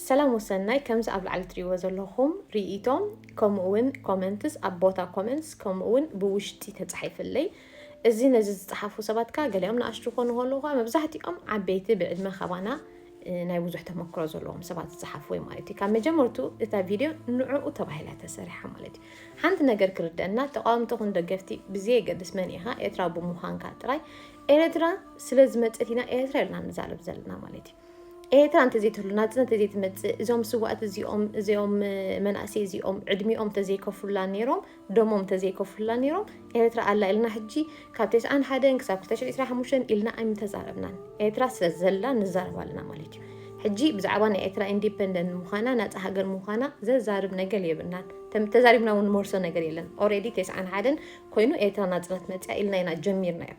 ሰላም ወሰናይ ከምዚ ኣብ ላዕሊ ትሪእዎ ዘለኹም ሪኢቶ ከምኡ ውን ኮመንትስ ኣብ ቦታ ኮመንትስ ከምኡ ውን ብውሽጢ ተጻሒፍለይ እዚ ነዚ ዝጸሓፉ ሰባት ከኣ ገሊኦም ንኣሽቱ ኮኑ ከለዉ ከኣ መብዛሕትኦም ዓበይቲ ብዕድመ ካባና ናይ ብዙሕ ተመክሮ ዘለዎም ሰባት ዝጸሓፉ ወይ ማለት እዩ ካብ መጀመርቱ እታ ቪድዮ ንዕኡ ተባሂላ ተሰሪሓ ማለት እዩ ሓንቲ ነገር ክርደና ተቃወምቲ ኹን ደገፍቲ ብዘየገድስ መን ኢኻ ኤርትራ ብምዃንካ ጥራይ ኤርትራ ስለ ዝመጸት ኢና ኤርትራ ኢልና ንዛረብ ዘለና ማለት እዩ ኤርትራ እንተዘይትህሉ ናጽነት እንተዘይትመጽእ እዞም ስዋእት እዚኦም እዚኦም መናእሰይ እዚኦም ዕድሚኦም እንተዘይከፍሉላ ነይሮም ደሞም እንተዘይከፍሉላ ነይሮም ኤርትራ ኣላ ኢልና ሕጂ ካብ ተስዓን ሓደን ክሳብ ክልተ ሽሕ ዕስራን ሓሙሽተን ኢልና ኣይምተዛረብናን ኤርትራ ስለ ዘላ ንዛረብ ኣለና ማለት እዩ ሕጂ ብዛዕባ ናይ ኤርትራ ኢንዲፐንደንት ምዃና ናፃ ሃገር ምዃና ዘዛርብ ነገር የብልናን ተዛሪብና እውን ንመርሶ ነገር የለን ኦሬዲ ተስዓን ሓደን ኮይኑ ኤርትራ ናፅነት መፅያ ኢልና ኢና ጀሚርናዮ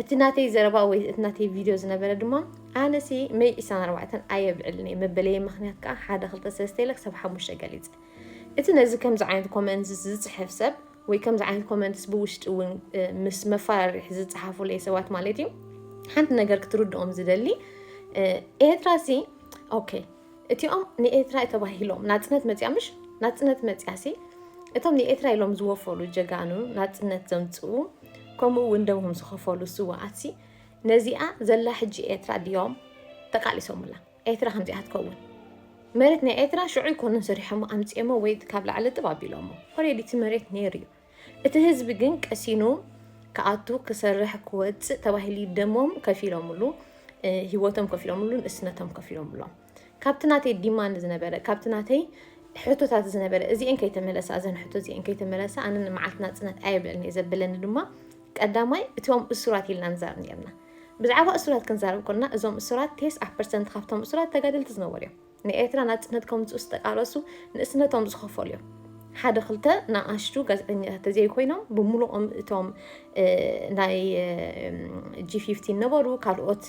እቲ ናተይ ዘረባ ወይ እቲ ናተይ ቪድዮ ዝነበረ ድማ ኣነሲ መይ ዒስራን ኣርባዕተን ኣየብዕልን እየ መበለየ ምክንያት ከዓ ሓደ ክልተ ሰለስተ ኢለ ክሳብ ሓሙሽተ ገሊፀ እቲ ነዚ ከምዚ ዓይነት ኮመንት ዝፅሕፍ ሰብ ወይ ከምዚ ዓይነት ኮመንትስ ብውሽጢ እውን ምስ መፈራርሒ ዝፀሓፉለይ ሰባት ማለት እዩ ሓንቲ ነገር ክትርድኦም ዝደሊ ኤርትራሲ ኦኬ እቲኦም ንኤርትራ'የ ተባሂሎም ናጽነት መጺኣ ምሽ ናጽነት መጺኣሲ እቶም ንኤርትራ ኢሎም ዝወፈሉ ጀጋኑ ናጽነት ዘምጽኡ ከምኡ እውን ደሞም ዝኸፈሉ ስዋኣትሲ ነዚኣ ዘላ ሕጂ ኤርትራ ድዮም ተቃሊሶምላ ኤርትራ ከምዚኣ ትከውን መሬት ናይ ኤርትራ ሽዑ ይኮኑን ሰሪሖሞ ኣምጺኦሞ ወይ ካብ ላዕሊ ጥብ ኣቢሎሞ ኦሬዲ እቲ መሬት ነይሩ እዩ እቲ ህዝቢ ግን ቀሲኑ ክኣቱ ክሰርሕ ክወፅእ ተባሂሉ ደሞም ከፊሎምሉ ሂወቶም ከፊሎምሉ ንእስነቶም ከፊሎምሎም ካብቲ ናተይ ዲማንድ ዝነበረ ካብቲ ናተይ ሕቶታት ዝነበረ እዚአን ከይተመለሳ እዘን ሕቶ እዚአን ከይተመለሳ ኣነ ንመዓልቲ ናፅነት ኣየብለኒ እየ ዘብለኒ ድማ ቀዳማይ እቶም እሱራት ኢልና ንዛረብ ነርና ብዛዕባ እሱራት ክንዛረብ ኮና እዞም እሱራት ቴስዓ ፐርሰንት ካብቶም እሱራት ተጋደልቲ ዝነበሩ እዮም ንኤርትራ ናጽነት ከምጽኡ ዝተቃለሱ ንእስነቶም ዝኸፈሉ እዮም። ሓደ ክልተ ንኣሽቱ ጋዜጠኛታት ተዘይኮይኖም ብምሉኦም እቶም ናይ ጂ ፊፍቲን ነበሩ ካልኦት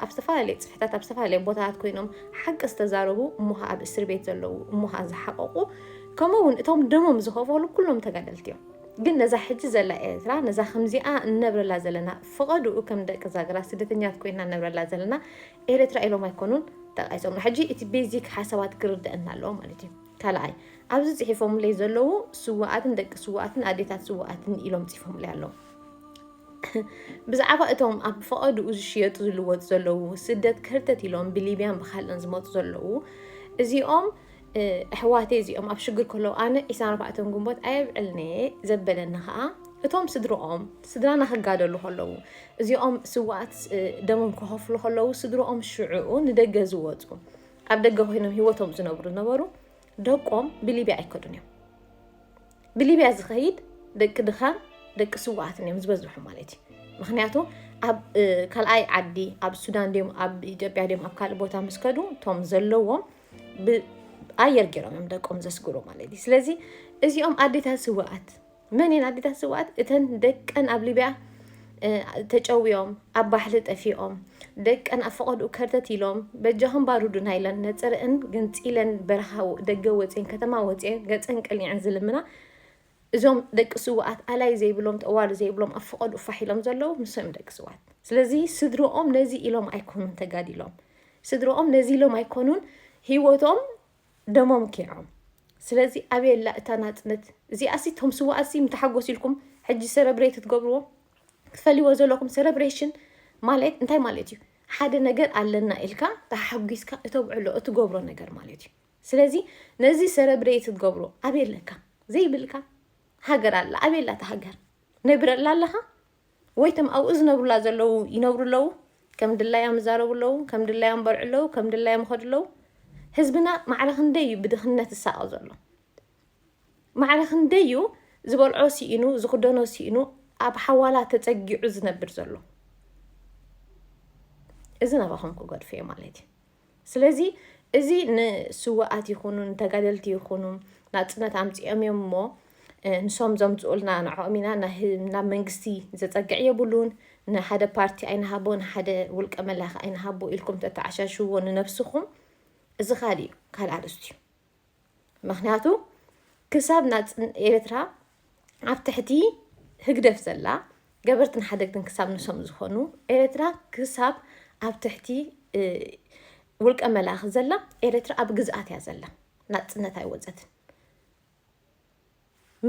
ኣብ ዝተፈላለየ ጽፍሕታት ኣብ ዝተፈላለየ ቦታታት ኮይኖም ሓቂ ዝተዛረቡ እሞ ኸዓ ኣብ እስር ቤት ዘለዉ እሞ ኸዓ ዝሓቐቑ ከምኡ እውን እቶም ደሞም ዝኸፈሉ ኩሎም ተጋደልቲ እዮም። ግን ነዛ ሕጂ ዘላ ኤርትራ ነዛ ከምዚኣ እንነብረላ ዘለና ፍቐድኡ ከም ደቂ ዛግራ ስደተኛት ኮይና እነብረላ ዘለና ኤረትራ ኢሎም ኣይኮኑን ጠቃሶምና ሕጂ እቲ ቤዚክ ሓሳባት ክርደኣና ኣለዎ ማለት እዩ ካልኣይ ኣብዚ ጽሒፎምለይ ዘለዉ ስዋኣትን ደቂ ስዋኣትን ኣዴታት ስዋኣትን ኢሎም ጽፎምለይ ኣለዉ ብዛዕባ እቶም ኣብ ፈቐድኡ ዝሽየጡ ዝልወጡ ዘለዉ ስደት ክህርተት ኢሎም ብሊብያን ብካልእን ዝመፁ ዘለዉ እዚኦም ኣሕዋተይ እዚኦም ኣብ ሽግር ከለዉ ኣነ ዒስራን ኣርባዕተን ግንቦት ኣየብዕልን እየ ዘበለኒ ከዓ እቶም ስድርኦም ስድራና ክጋደሉ ከለዉ እዚኦም ስዋኣት ደሞም ክኸፍሉ ከለዉ ስድርኦም ሽዑኡ ንደገ ዝወፁ ኣብ ደገ ኮይኖም ሂወቶም ዝነብሩ ዝነበሩ ደቆም ብሊብያ ኣይከዱን እዮም ብሊብያ ዝኸይድ ደቂ ድኻን ደቂ ስዋኣትን እዮም ዝበዝሑ ማለት እዩ ምክንያቱ ኣብ ካልኣይ ዓዲ ኣብ ሱዳን ድዮም ኣብ ኢትዮጵያ ድዮም ኣብ ካልእ ቦታ ምስ ከዱ እቶም ዘለዎም ኣየር ገይሮም እዮም ደቆም ዘስግሩ ማለት እዩ ስለዚ እዚኦም ኣዴታት ስዋኣት መን እየን ኣዴታት ስዋኣት እተን ደቀን ኣብ ሊብያ ተጨውዮም ኣብ ባሕሪ ጠፊኦም ደቀን ኣብ ፈቐድኡ ከርተት ኢሎም በጃኹም ባሩዱና ኢለን ነፅርአን ገንፂለን በረኻ ደገ ወፅን ከተማ ወፅን ገፀን ቀሊዐን ዝልምና እዞም ደቂ ስውኣት ኣላይ ዘይብሎም ጠዋሪ ዘይብሎም ኣብ ፍቐድኡ ፋሕ ኢሎም ዘለዉ ንሶም እዮም ደቂ ስውኣት ስለዚ ስድርኦም ነዚ ኢሎም ኣይኮኑን ተጋዲሎም ስድርኦም ነዚ ኢሎም ኣይኮኑን ሂወቶም ደሞም ኪዖም ስለዚ ኣበየላ እታ ናጽነት እዚኣሲ እቶም ስውኣትሲ ምተሓጎስ ኢልኩም ሕጂ ሰረብሬት ክትገብርዎ ክትፈልይዎ ዘለኹም ሰረብሬሽን ማለት እንታይ ማለት እዩ ሓደ ነገር ኣለና ኢልካ ተሓጒስካ እተብዕሎ እትገብሮ ነገር ማለት እዩ ስለዚ ነዚ ሰረ ብደየት ትገብሮ ኣበይ ኣለካ ዘይብልካ ሃገር ኣላ ኣበይ ኣላ እታ ሃገር ነብረላ ኣለኻ ወይ ተም ኣብኡ ዝነብሩላ ዘለዉ ይነብሩ ኣለዉ ከም ድላዮም ይዛረቡ ኣለዉ ከም ድላዮም በልዑ ኣለዉ ከም ድላዮም ይኸዱ ኣለዉ ህዝብና ማዕረ ክንደይ እዩ ብድኽነት ዝሳቐ ዘሎ ማዕረ ክንደይ እዩ ዝበልዖ ስኢኑ ዝኽደኖ ስኢኑ ኣብ ሓዋላ ተፀጊዑ ዝነብር ዘሎ እዚ ናባኹም ክገድፎ እየ ማለት እዩ ስለዚ እዚ ንስዋኣት ይኹኑ ንተጋደልቲ ይኹኑ ናጽነት ኣምጺኦም እዮም እሞ ንሶም ዘምጽኡልና ንዕኦም ኢና ናብ መንግስቲ ዘጸግዕ የብሉን ንሓደ ፓርቲ ኣይንሃቦ ንሓደ ውልቀ መላኺ ኣይንሃቦ ኢልኩም ተተዓሻሽዎ ንነብስኹም እዚ ካልእ እዩ ካልእ ኣርእስቲ እዩ ምክንያቱ ክሳብ ናፅን ኤርትራ ኣብ ትሕቲ ህግደፍ ዘላ ገበርትን ሓደግትን ክሳብ ንሶም ዝኾኑ ኤርትራ ክሳብ ኣብ ትሕቲ ውልቀ መላኺ ዘላ ኤርትራ ኣብ ግዝኣት እያ ዘላ ናፅነት ኣይወፀትን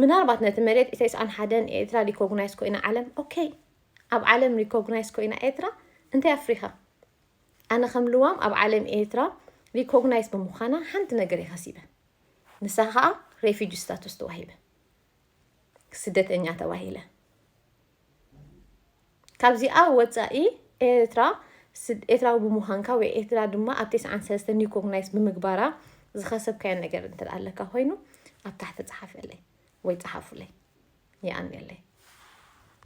ምናልባት ነቲ መሬት ኢሰይስኣን ሓደን ኤርትራ ሪኮግናይዝ ኮይና ዓለም ኦኬ ኣብ ዓለም ሪኮግናይዝ ኮይና ኤርትራ እንታይ ኣፍሪኻ ኣነ ከም ልዋም ኣብ ዓለም ኤርትራ ሪኮግናይዝ ብምዃና ሓንቲ ነገር እየ ከሲበ ንሳ ከዓ ሬፊጂ ስታቱስ ተዋሂበ ስደተኛ ተባሂለ ካብዚኣ ወፃኢ ኤርትራ ኤርትራዊ ብምዃንካ ወይ ኤርትራ ድማ ኣብ ቴስዓን ሰለስተ ኒኮግናይስ ብምግባራ ዝኸሰብካዮ ነገር እንተ ኣለካ ኮይኑ ኣብ ታሕቲ ፀሓፈልይ ወይ ፀሓፉለይ ይኣንየለይ